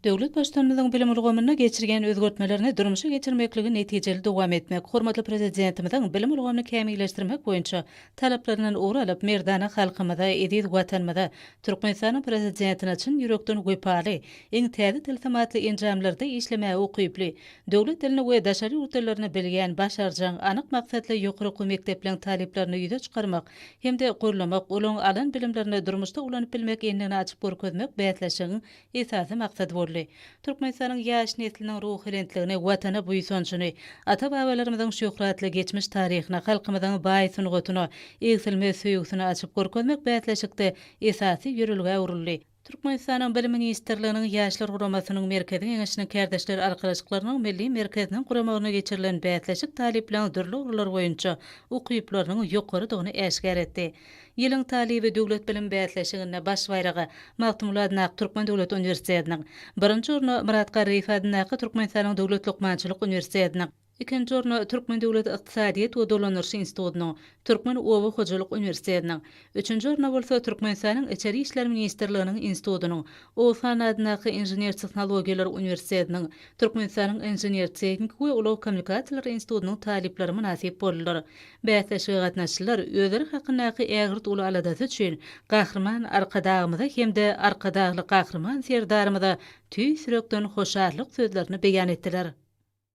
Döwlet Baştutanymyzyň bilim ulgamynda geçirýän özgertmelerini durmuşa geçirmekligi netijeli dowam etmek, hormatly Prezidentimiziň bilim ulgamyny kämilleşdirmek boýunça talaplaryndan ugur alyp, merdana halkymyza, eziz Watanymyza, Türkmenistanyň Prezidentine çyn ýürekden wepaly, iň täze tilsim atly enjamlarda işlemäge ukyply, döwlet dilini we daşary ýurt dillerini bilýän, başarjaň, anyk maksatly ýokary okuw mekdepleriň talyplaryny ýüze çykarmak, hem-de gollamak, olaryň alan bilimlerini durmuşda ulanyp bilmek endigini açyp görkezmek bäsleşigiň esasy maksady boldy. Türkmenistanyň ýaş nesliniň ruhubelentligini, Watana buýsanjyny, ata-babalarymyzyň şöhratly geçmiş taryhyna, halkymyzyň baý sungatyna egsilmez söýgüsini açyp görkezmek bäsleşikde esasy ýörelgä öwrüldi. Türkmenistanyň Bilim ministrliginiň Ýaşlar guramasynyň Merkezi Geňeşiniň Kärdeşler arkalaşyklarynyň Milli merkeziniň guramagynda geçirilen bäsleşik talyplaryň dürli ugurlar boýunça ukyplarynyň ýokarydygyny äşgär etdi. Ýylyň talyby döwlet bilim bäsleşiginde baş baýraga Magtymguly adyndaky Türkmen döwlet uniwersitetiniň, birinji orna Myrat Garryýew adyndaky Türkmenistanyň Döwlet lukmançylyk uniwersitetiniň, Ikinji orna Türkmen döwlet ykdysadyýet we dolandyryş institutynyň, Türkmen oba hojalyk uniwersitetiniň, üçünji orna bolsa Türkmenistanyň Içeri işler ministrliginiň institutynyň, Oguzhan adyndaky Inžener-tehnologiýalar uniwersitetiniň, Türkmenistanyň Inžener-tehniki we ulag kommunikasiýalary institutynyň talyplary mynasyp boldular. Bäsleşige gatnaşyjylar özleri hakyndaky ägirt uly aladasy üçin Gahryman Arkadagymyza hem-de Arkadagly Gahryman Serdarymyza tüýs ýürekden hoşallyk sözlerini beýan etdiler.